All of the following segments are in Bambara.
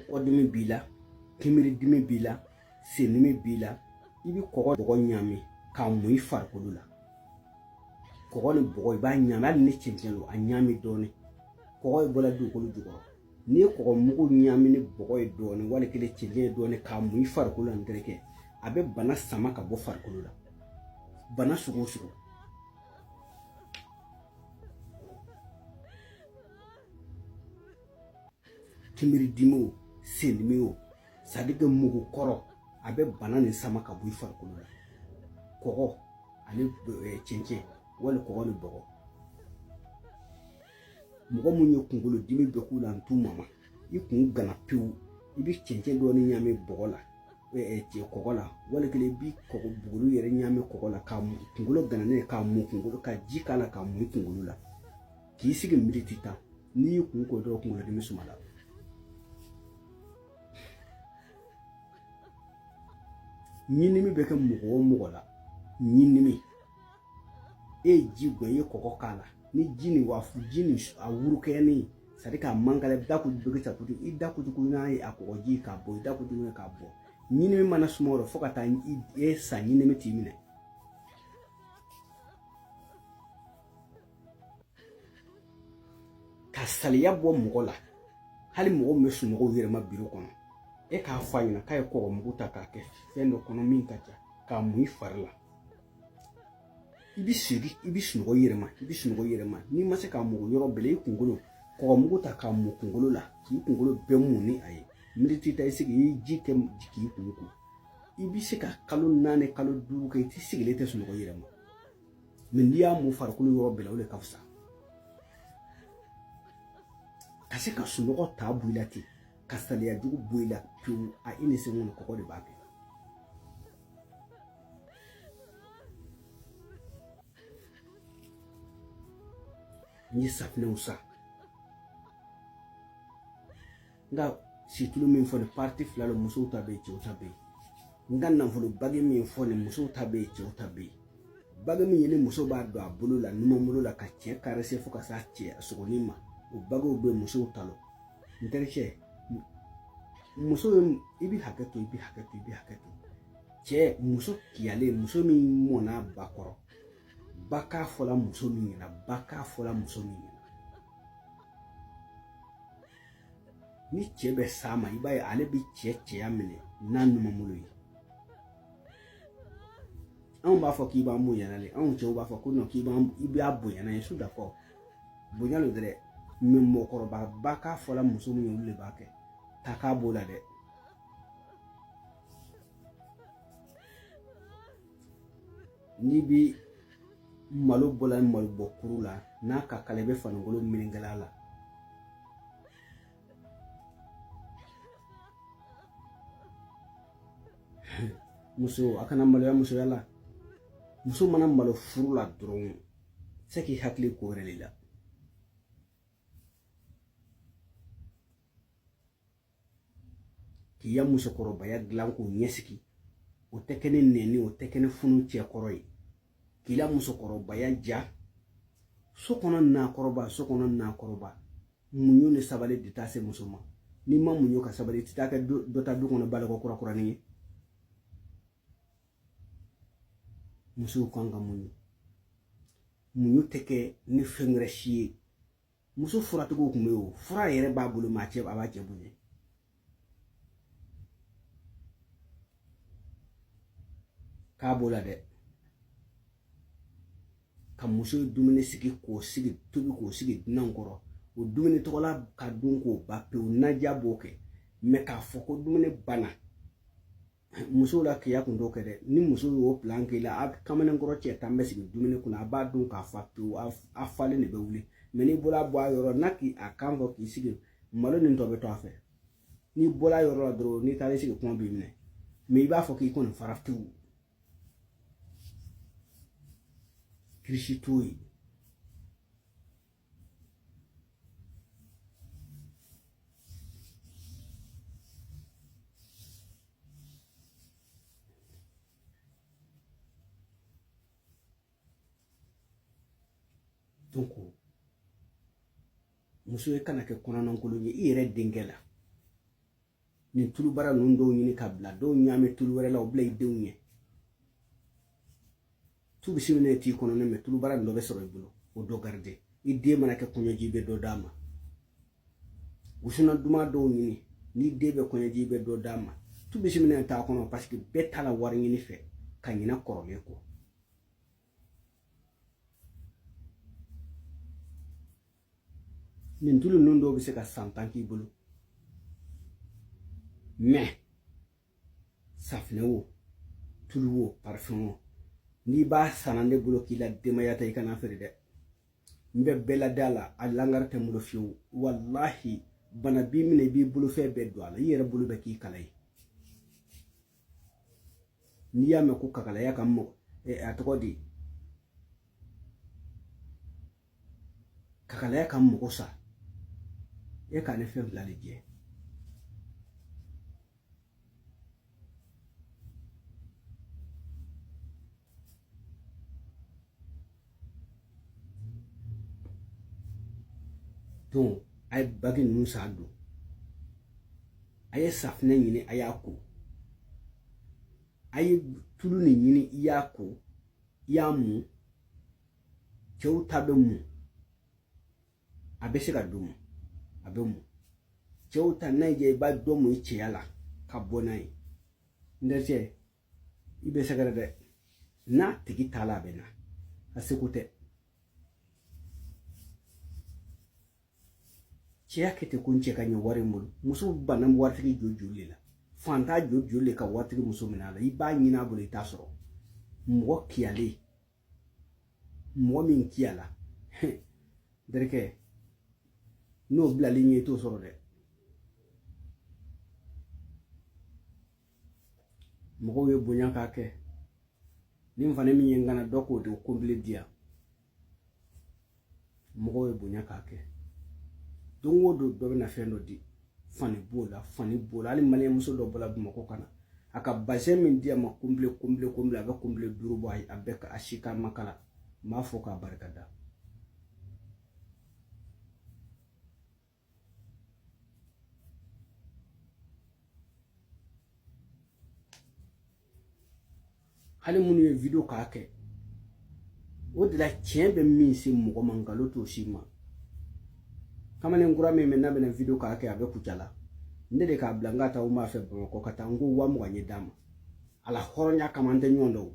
kɔdimi b'i la kimiridimi b'i la sendimi b'i la i bɛ kɔgɔ bɔgɔ ɲami k'a mun i farikolo la kɔgɔ ni bɔgɔ i b'a ɲami hali ni cɛncɛn don a ɲami dɔɔnin kɔgɔ ye bɔla dugukolo jukɔrɔ n'i ye kɔgɔ mugu ɲami ni bɔgɔ ye dɔɔnin wali kelen cɛncɛn ye dɔɔnin k'a mun i farikolo la n terikɛ a bɛ bana sama ka bɔ farikolo la bana sugu o sugu kimiridimi o sendimi o c'est-à-dire que mugu kɔrɔ a bɛ bana nin sama ka bɔ i farikolo la kɔgɔ ani eh, cɛncɛn wali kɔgɔ ni bɔgɔ mɔgɔ min ye kunkolo dimi bɛ k'u la n t'u mama i kun gana pewu i bɛ cɛncɛn dɔɔni ɲaami bɔgɔ la eh, eh, kɔgɔ la wali kelen i bɛ kɔgɔ buguru yɛrɛ ɲaami kɔgɔ la k'a mu kunkolo gananen k'a mu kunkolo ka ji k'a la k'a mu i kunkolo la k'i sigi militi tan n'i y'i kun ko dɔrɔn kunkolodimi sumala ɲindimi bɛ kɛ mɔgɔ o mɔgɔ la ɲindimi e ye ji gwan i ye kɔgɔ k'a la ni ji nin wa ji nin a wɔlɔkɔyalen c'est-à-dire k'a man kalan i bɛ taa kutu bɛ ta kutu i da kutu n'a ye a kɔgɔ ji k'a bɔ i da kutu k'a bɔ ɲindimi mana suma o la fo ka taa e sa ɲindimi t'i minɛ ka saliya bɔ mɔgɔ la hali mɔgɔ min bɛ sunɔgɔ u yɛrɛ ma biro kɔnɔ e k'a fɔ a ɲɛna k'a ye kɔgɔ mugu ta k'a kɛ fɛn dɔ kɔnɔ min ka ca k'a mun i fari la i bɛ sigi i bɛ sunɔgɔ i yɛrɛ ma i bɛ sunɔgɔ i yɛrɛ ma n'i ma se k'a mun yɔrɔ bɛɛ la i kunkolo kɔgɔ mugu ta k'a mun kunkolo la k'i kunkolo bɛɛ mun ni a ye militi tan i sigi i ji kɛ k'i kun ko i bɛ se ka kalo naani kalo duuru kɛ i tɛ sigilen tɛ sunɔgɔ i yɛrɛ ma mais n'i y'a mun farikolo yɔrɔ bɛɛ la o de ka fisa ka se ka sunɔgɔ ta bɔ i la ten ka saliya jugu bɔ i la pewu a i ni ce kɔnɔ kɔgɔ de b'a kɛ n ye safinɛw san n ka situlu min fɔ nin parti fila don musow ta bɛ yen cɛw ta bɛ yen n ka nafolo bagi min fɔ nin musow ta bɛ yen cɛw ta bɛ yen bagi min ye ni muso b'a don a bolo la numan bolo la ka cɛ karese fo ka s'a cɛ a sogonin ma o bagiw bɛɛ musow ta don n terikɛ muso i bɛ hakɛ to i bɛ hakɛ to i bɛ hakɛ to cɛ muso kiyalen muso min mɔnna ba kɔrɔ ba k'a fɔla muso min ɲɛna ba k'a fɔla muso min ɲɛna ni cɛ bɛ s'a ma i b'a ye ale bi cɛ cɛya minɛ n'a numanbolo ye anw b'a fɔ k'i b'an bonyana le anw cɛw b'a fɔ ko k'i b'an i b'a bonya n'a ye su dafɔ bonya lo dɛrɛ mɛ mɔgɔkɔrɔba ba k'a fɔla muso min ye olu de b'a kɛ ta k'a b'o la dɛ n'i bi malo bɔla malo bɔ kuru la n'a ka kalan i bɛ fanikolon mini kala la muso a kana maloya musoya la muso mana malo furu la dɔrɔn se k'i hakili ko wɛrɛ de la k'i ya musokɔrɔbaya dilan k'o ɲɛsigi o tɛ kɛ ni nɛni o tɛ kɛ ni funu cɛ kɔrɔ ye k'i la musokɔrɔbaya ja so kɔnɔna kɔrɔba so kɔnɔna kɔrɔba muɲu ni sabali de taa se muso ma n'i ma muɲu ka sabali i tɛ taa kɛ dɔ ta du kɔnɔ baloko kura kuranin ye musow kan ka muɲu muɲu tɛ kɛ ni fɛn wɛrɛ si ye muso furatigiw kun bɛ yen o fura yɛrɛ b'a bolo mɛ a cɛ a b'a cɛ bonya k'a b'o la dɛ ka muso dumuni sigi k'o sigi tobi k'o sigi dunanw kɔrɔ o dumuni tɔgɔla ka dun k'o ban pewu naja b'o kɛ mɛ k'a fɔ ko dumuni banna musow lakika kun t'o kɛ dɛ ni muso y'o plan k'i la a kamalen kɔrɔ cɛ tan bɛ sigi dumuni kunna a b'a dun ka fa pewu a falen de bɛ wuli mɛ n'i bɔra bɔ a yɔrɔ n'a k'i a kan fɔ k'i sigi malo nin tɔ bɛ to a fɛ n'i bɔra yɔrɔ la dɔrɔn n'i taara i sigi kɔngɔ b'i minɛ mɛ i b'a fɔ k'i kɔni fara pewu kirisi t'o ye dɔnki muso e kana kɛ kɔnɔnankolon ye i yɛrɛ denkɛ la nin tulubara ninnu dɔw ɲini ka bila dɔw ɲaami tulu wɛrɛ la o bila i denw ɲɛ tu bisimilayi t'i kɔnɔ ne mɛ tulubara nin dɔ bɛ sɔrɔ i bolo o dɔ garide i den mana kɛ kɔɲɔ y'i bɛ dɔ d'a ma wusulan duman dɔw ɲini n'i den bɛ kɔɲɔji bɛ dɔ d'a ma tu bisimilayi t'a kɔnɔ paseke bɛɛ taara wari ɲini fɛ ka ɲinɛ kɔrɔlen kɔ nin tulu ninnu dɔw bɛ se ka san tan k'i bolo mais safinɛ wo tulu wo parifɛn wo n'i b'a sanna ne bolo k'i la denbaya ta i kana feere dɛ n bɛ bɛɛ lada a la a langari tɛ n bolo fiyewu walahi bana b'i minɛ i b'i bolofɛn bɛɛ don a la i yɛrɛ bolo bɛ k'i kala ye n'i y'a mɛn ko kakalaya ka mɔgɔ a tɔgɔ di kakalaya ka mɔgɔ sa e ka ne fɛn fila de jɛ donc a ye bagi ninnu san don a ye safinɛ ɲini a y'a ko a ye tulu nin ɲini i y'a ko i y'a mun cɛw ta bɛ mun a bɛ se ka dumu a bɛ mun cɛw ta n'a ye i b'a dɔ mun i cɛya la ka bɔ n'a ye n dɛsɛ i bɛ sɛgɛrɛ dɛ n'a tigi t'a la a bɛ na a seko tɛ cɛya kɛ ten ko n cɛ ka ɲi wari ye n bolo muso banna waritigi joli joli de la faantan joli joli de ka waritigi muso minɛ a la i b'a ɲini a bolo i t'a sɔrɔ mɔgɔ kiyalen mɔgɔ min kiyala dɛrɛkɛ n'o bilal'i ɲɛ i t'o sɔrɔ dɛ mɔgɔw ye bonya k'a kɛ nin fani min ye n kanna dɔ k'o de kɔnbile di yan mɔgɔw ye bonya k'a kɛ don o don dɔ bɛna fɛn dɔ di fani b'o la fani b'o la hali maliyɛnmuso dɔ bɔla bamakɔ ka na a ka bazɛn min di a ma kɔnbile kɔnbile kɔnbile a bɛ kɔnbile duuru bɔ a bɛɛ a si k'a ma kala n b'a fɔ k'a barika da hali minnu ye video k'a kɛ o de la tiɲɛ bɛ min se mɔgɔ ma nkalon t'o s'i ma kamalen kura min bɛ n'a bɛna video k'a kɛ a bɛ kucala ne de k'a bila n k'a taa n ma fɛ bamakɔ ka taa n ko waa mugan ye d'a ma ala hɔrɔnya kama an tɛ ɲɔgɔn dɔn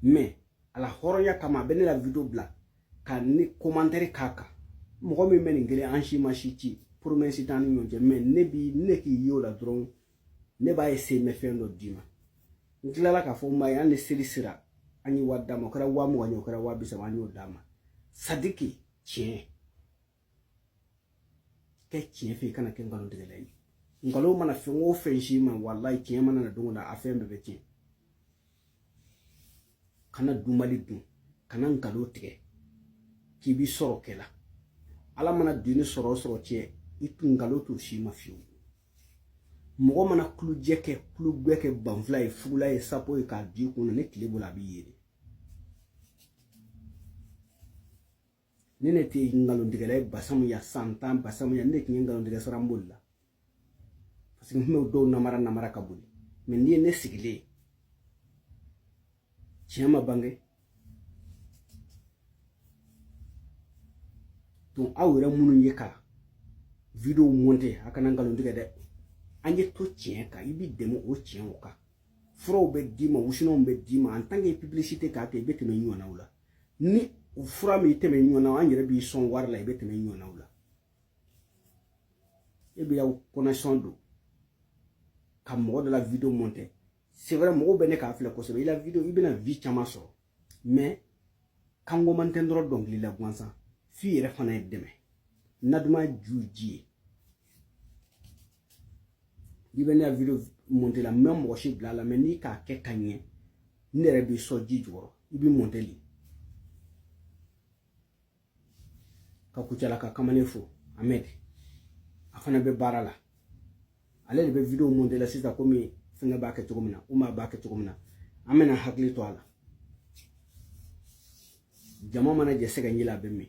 mais ala hɔrɔnya kama a bɛ ne la video bila ka ne commentaire k'a kan mɔgɔ min bɛ nin kelen an si ma si ci promesse t'an ni ɲɔgɔn cɛ mais ne bi ne k'i ye o la dɔrɔn ne b'a essayer n bɛ fɛn dɔ d'i ma n tilala k'a fɔ n ma ye an ni seli sera an ye wari d'a ma o kɛra waa mugan ye o kɛra waa bi saba an y'o d'a ma sadiki tiɲɛ kɛ tiɲɛ fɛ i kana kɛ nkalon tigɛla ye nkalon mana fɛn o fɛn s'i ma walayi tiɲɛ mana na don o don a fɛn bɛɛ bɛ tiɲɛ kana dumali dun kana nkalon tigɛ k'i bi sɔrɔ kɛ la ala mana dunni sɔrɔ o sɔrɔ tiɲɛ i tun nkalon t'o s'i ma fiyewu mɔgɔ mana kulujɛ kɛ kulugɛ kɛ banfula ye fugula ye sapo ye k'a d'i kun na ni tile bɔla a bi yeele ne ne tɛ nkalontigɛla ye basamu ya san tan basamu ya ne de tun ye nkalontigɛ sara n bolila parce que n tun bɛ dɔw namara namara ka boli mɛ n'i ye ne sigilen ye tiɲɛ ma bange donc aw yɛrɛ minnu ye ka video monte a kana nkalon tigɛ dɛ an ye to tiɲɛ kan i b'i dɛmɛ o tiɲɛ o kan furaw bɛ d'i ma wusunanw bɛ d'i ma en tant que publicité k'a kɛ i bɛ tɛmɛ ɲɔgɔnnaw la ni fura m'i tɛmɛ ɲɔgɔn na an yɛrɛ b'i sɔn wari la i bɛ tɛmɛ ɲɔgɔnnaw la e b'i ya connexion don ka mɔgɔ dɔ la video monte c'est vrai mɔgɔw bɛ ne k'a filɛ kosɛbɛ i la video i bɛna vue caman sɔrɔ mais ka commentaire dɔrɔn dɔnkili la gansan f'i yɛrɛ fana ye dɛmɛ na duman ju ji ye i bɛ ne ka video monte la n bɛ mɔgɔ si bila a la mɛ n'i k'a kɛ ka ɲɛ ne yɛrɛ b'i sɔn ji jukɔrɔ i b'i monte de ka kucalaka kamalen fo amɛd a fana bɛ baara la ale de bɛ video monte la sisan komi fɛngɛ b'a kɛ cogo min na umar b'a kɛ cogo min na an bɛna hakili to a la jama mana jɛ sɛgɛji la a bɛ min